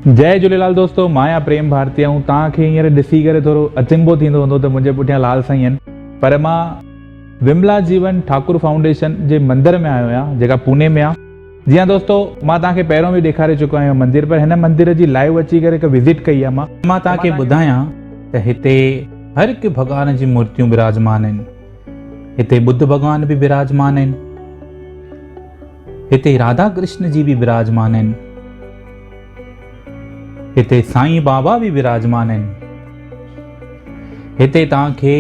جئي جهوليلال دوستو مان آهيان پريم ڀارتي ۽ توهان کي هينئر ڏسي ڪري ٿورو اچنڀو ٿيندو هوندو ته منهنجي پٺيان لال سائين آهن پر مان وملا جيون ٺاڪر فائونڊيشن جي مندر ۾ آيو آهيان جيڪا پوني ۾ آهي جي ها دوستو مان توهان کي پهريون به ڏيکاري چڪو آهيان اهو مندر پر هن مندر جي لائيو اچي ڪري هڪ وزٽ ڪئي آهي مان مان توهان کي ٻڌايان ته هتي هر هڪ ڀڳوان جي مورتيون براجمان آهن هتي ٻڌ ڀڳوان به براجمان آهن. هتي راڌا ڪرشن جي به براجمان آهن. هتي سائين بابا به براجمان آهن. هتي توهان کي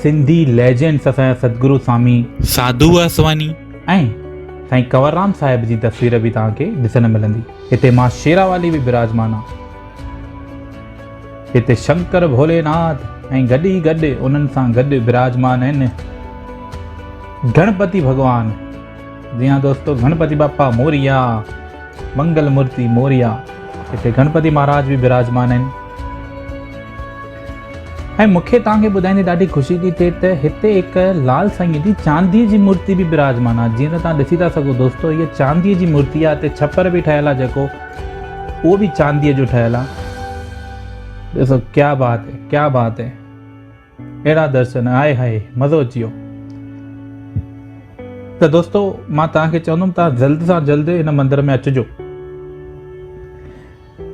سنڌي ليجنڊس اسان سدگرو سامي ساڌو واسواني ۽ سائين ڪنور رام صاحب جي تصوير به توهان کي ڏسڻ ملندي. هتي ماء شيرا والي به براجمان آهي. هتي شنڪر ڀولي ناٿ ۽ گڏ ئي گڏ انهن سان گڏ براجمان آهن گڻپتي ڀڳوان جي ها دوستو گڻپتي باپا موريا منگل مورتي موريا هتي گڻپتي مهاراج به براجمان آهن ۽ مونکي توهان کي ٻڌائيندي ڏاڍي خوشي ٿي ٿئي ته هتي هڪ لال سائين جي چاندي جي مورتي به براجمان آهي جيئن ته توهان ڏسي ٿا سگهو دوستو هي چاندي جي مورتي آهي هتي ڇپر به ٺهيل آهي جيڪو اهو به چانديء جو ٺهيل آ. ڏسو ڪيا بات هي ڪيا بات هي اهڙا درشن آئي هاء مزو اچي ويو ته دوستو مان توهان کي چوندم توهان جلد سان جلد ان مندر ۾ اچجو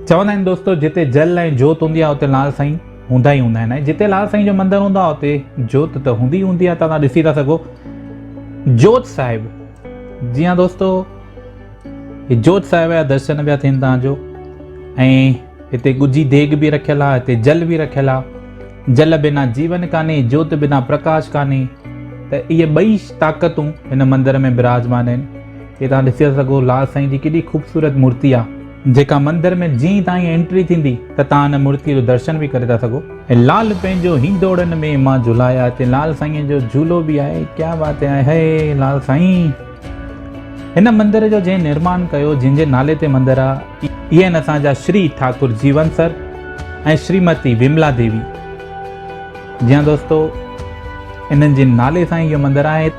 چوندا آهن دوستو جتي جل ۽ جوت هوندي آهي اتي لال سائين هوندا ئي هوندا آهن جتي لال سائين جو مندر هوندو آهي اتي جوت ته هوندي هوندي آهي توهان ڏسي ٿا سگهو جوت صاحب جي ها دوستو هي جوت صاحب جا درشن پيا ٿين تان جو ۽ هتي ڳجهي ديگ به رکيل آ هتي جل به رکيل آ جل بنا جيون ڪاني جوت بنا پرڪاش ڪاني ته اهي ٻئي طاقتون هن مندر ۾ براجمان آهن هي تان ڏسي سگهو لال سائين جي ڪيڏي خوبصورت مورتي آ جيڪا مندر ۾ جئين تائين انٽري ٿيندي ته تان هن مورتي جو درشن به ڪري ٿا سگهو ۽ لال پنهنجو هندوڙن ۾ مان جهلايا هتي لال سائين جو جهولو به آهي ڪيا بات آهي هي لال سائين. هن مندر جو جنهن نرمان ڪيو، جنهن جي نالي تي مندر آ، اهي آهن اسان جا شري ٺاڪر جيون سر ۽ شريمتي وملا ديوي. جي هان دوستو، انهن جي نالي سان ئي اهو مندر آهي.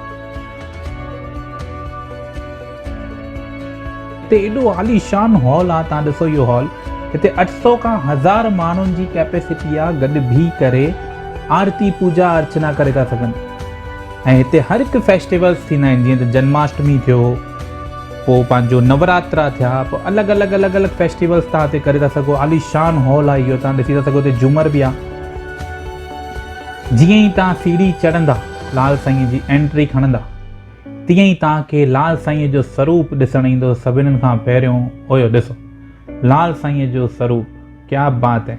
هتي ايڏو عاليشان هال آ، توهان ڏسو اهو هال، هتي اٺ سؤ کان هزار ماڻهن جي ڪيپيسٽي آ، گڏ بيهي ڪري آرتي، پوڄا ارچنا ڪري ٿا سگهن. ۽ هتي هر هڪ فيسٽيولس ٿيندا آهن جيئن ته جنماشٽمي ٿيو پوء پنهنجو نوراترا ٿيا پوء الڳ الڳ الڳ الڳ فيسٽيولس تان هتي ڪري ٿا سگهو عاليشان هال آهي اهو تان ڏسي ٿا سگهو هتي جمر به آهي جيئن ئي تان سيڙهي چڙهندا لال سائين جي انٽري کڻندا تيئن ئي تان کي لال سائين جو سروپ ڏسڻ ايندو سڀنن کان پهريون اويو ڏسو لال سائين جو سروپ ڪيا بات هي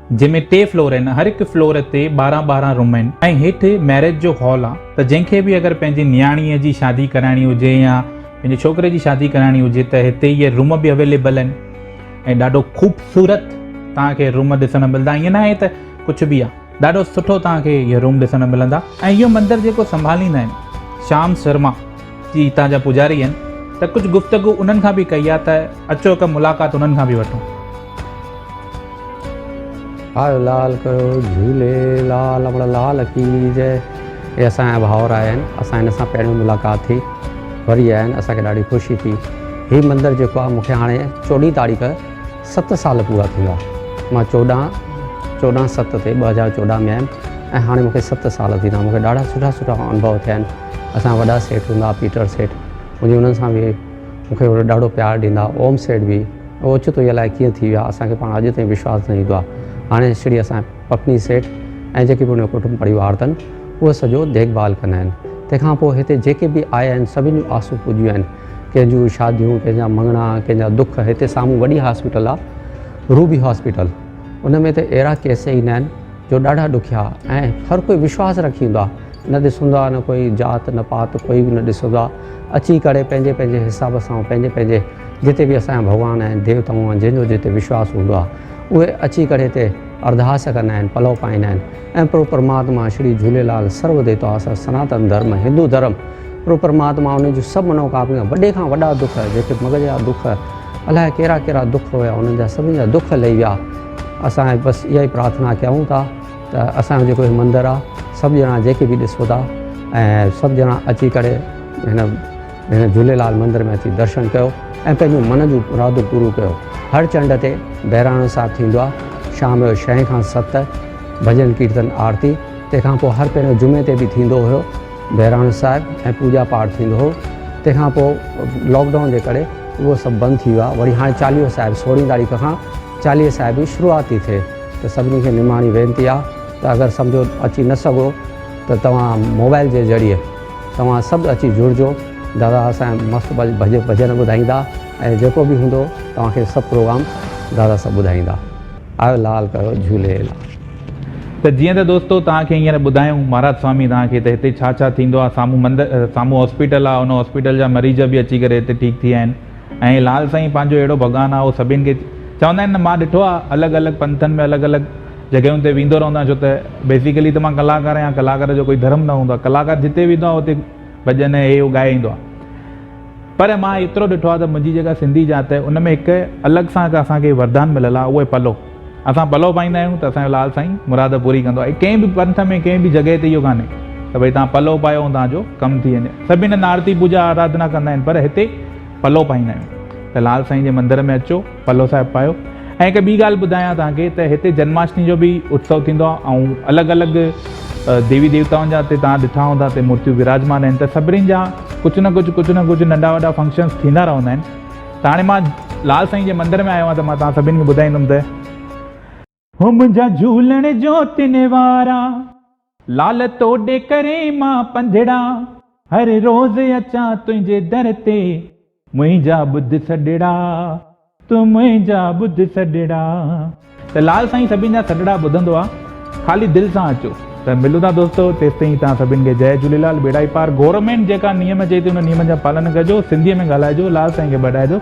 جنهن ۾ ٽي فلور آهن هر هڪ فلور تي ٻارهن ٻارهن روم آهن ۽ هيٺ ميرج جو هال آ ته جنهن کي به اگر پنهنجي نياڻي جي شادي ڪرائڻي هجي يا پنهنجي ڇوڪري جي شادي ڪرائڻي هجي ته هتي اهي روم به اويليبل آهن ۽ ڏاڍو خوبصورت توهان کي روم ڏسڻ ملدا ائين ناهي ته ڪجهه به آ ڏاڍو سٺو توهان کي اهي روم ڏسڻ ملندا ۽ اهو مندر جيڪو سنڀاليندا آهن شام شرما جي هتان جا پوجاري آهن ته ڪجهه گفتگو انهن کان به ڪئي آهي ته اچو هڪ ملاقات انهن کان به وٺون. آيو لال ڪيو جهولي لال امڙ لال ڪي جئ اهي اسان جا ڀائور آهن اسان هن سان پهريون ملاقات ٿي وري آهن اسان کي ڏاڍي خوشي ٿي هي مندر جيڪو آهي مونکي هاڻي چوڏهين تاريخ ست سال پورا ٿيندا مان چوڏهن چوڏهن ست تي ٻه هزار چوڏهن ۾ آيم ۽ هاڻي مونکي ست سال ٿيندا مونکي ڏاڍا سٺا سٺا انڀو ٿيا آهن اسان وڏا سيٺ هوندا هئا پيٽر سيٺ مونکي انهن سان به مونکي ڏاڍو پيار ڏيندا هئا اوم سيٺ به هو اوچتو ئي الائي ڪيئن ٿي ويو آهي اسانکي پاڻ اڄ تائين وشواس نه ايندو آهي هاڻي شڙي اسان پپني سيٺ ۽ جيڪي به ان جو ڪٽنب پريوار تن اهي سڄو ديکڀال ڪندا آهن تنهن کان پوء هتي جيڪي به آيا آهن سڀني جون آسون پوڄيون آهن ڪنهن جون شاديون، ڪنهن جا مڱڻا، ڪنهن جا دک، هتي سامهون وڏي هاسپيٽل آ روبي هاسپيٽل ان ۾ ته اهڙا ڪيس ايندا آهن جو ڏاڍا ڏکيا ۽ هر ڪوئي وشواس رکي ايندو آ نه ڏسندو آ نه ڪوئي جات نه پات ڪوئي به نه ڏسندو آ اچي ڪري پنهنجي پنهنجي حساب سان پنهنجي پنهنجي جتي به اسان جا ڀڳوان آهن ديوتائون آهن جنهن جو جتي وشواس هوندو آ اهي اچي ڪري هتي ارداس ڪندا آهن پلو پائيندا آهن ۽ پرڀو پرماتما شري جهوليلال سرو ديتا سر سناتن ڌرم هندو ڌرم پرڀو پرماتما انهن جون سڀ منوڪاميون وڏي کان وڏا دک جيڪي مغز جا دک الاء ڪهڙا ڪهڙا دک هيا انهن جا سڀني جا دک لهي ويا اسان بس اها ئي پرارٿنا ڪيائون ٿا ته اسان جو جيڪو هي مندر آهي سڀ ڄڻا جيڪي به ڏسو ٿا ۽ سڀ ڄڻا اچي ڪري هن هن جهوليلال مندر ۾ اچي درشن ڪيو ۽ پنهنجون من جون مرادون پوريون ڪيو. هر چنڊ تي بهراڻو صاحب ٿيندو آهي. شام جو شئين کان ست ڀڄن ڪيرتن آرتي تنهن کان پوء هر پهريون جمعي تي به ٿيندو هيو بهراڻو صاحب ۽ پوڄا پاٺ ٿيندو هو تنهن کان پوء لاڪ ڊائون جي ڪري اهو سڀ بند ٿي ويو آهي وري هاڻي چاليهو صاحب سورهين تاريخ کان چاليهي صاحب جي شروعات ٿي ٿئي ته سڀني کي نماڻي وينتي آهي ته اگر سمجهو اچي نه سگهو ته توهان موبائل جي ذريعي توهان سڀ اچي جڙجو دادا اسان جا مست ڀڄن ٻڌائيندا ۽ جيڪو به هوندو توهان کي سڀ پروگرام دادا سڀ ٻڌائيندا آيو لال ڪيو جهولي لال. ته جيئن ته دوستو توهان کي هينئر ٻڌايون مهاراج سوامي توهان کي ته هتي ڇا ڇا ٿيندو آهي سامهون مند سامهون هاسپيٽل آهي ان هاسپيٽل جا مريض به اچي ڪري هتي ٺيڪ ٿي ويا آهن ۽ لال سائين پنهنجو اهڙو ڀڳوان آهي هو سڀين کي چوندا آهن نه مان ڏٺو آهي الڳ الڳ پنٿن ۾ الڳ الڳ جڳهيون تي ويندو رهندو آهيان ڇو ته بيسيڪلي ته مان ڪلاڪار آهيان ڪلاڪار جو ڪوئي ڌرم نه هوندو آهي ڪلاڪار جتي ويندو آهي اتي ڀڄن هي هو ڳائي ايندو آهي پر مان ايترو ڏٺو آهي ته منهنجي جيڪا سنڌي ذات آهي ان ۾ هڪ الڳ سان هڪ اسان کي وردان مليل آهي اهو آهي پلو اسان پلو پائيندا آهيون ته اسانجو لال سائين مراد پوري ڪندو آهي ڪنهن به پنٿ ۾ ڪنهن به جڳهه تي اهو ڪانهي ته ڀئي توهان پلو پايو ۽ توهانجو ڪم ٿي وڃي سڀ هن نارتي پوجا آرادنا ڪندا آهن پر هتي پلو پائيندا آهيون ته لال سائين جي مندر ۾ اچو پلو صاحب پايو ۽ هڪ ٻي ڳالهه ٻڌايان توهان کي ته هتي جنماشٽمي جو به اتسو ٿيندو آهي ۽ الڳ الڳ ديوي ديوتائن جا هتي توهان ڏٺا هوندا هتي مورتيون وراجمان آهن ته سڀني جا ڪجهه نه ڪجهه ڪجهه نه ڪجهه ننڍا وڏا فنڪشنس ٿيندا رهندا آهن ته هاڻي مان لال سائين جي مندر ۾ آيو آهيان ته مان توهان سڀني کي ٻڌائيندم ته هو منهنجا جهولڻ جو تن وارا. لال توڏي ڪري مان پنڌڙا. هر روز اچان تنهنجي در تي. منهنجا ٻڌ سڏڙا، تون منهنجا ٻڌ سڏڙا. ته لال سائين سڀين جا سڏڙا ٻڌندو آ خالي دل سان اچو. ته ملون ٿا دوستو تيستائين توهان سڀين کي جئي جهوليلال ٻيڙا ئي پار گورنمينٽ جيڪا نيم چئي ٿي ان نيمن جا پالن ڪجو سنڌي ۾ ڳالهائجو لال سائين کي ٻڏائجو.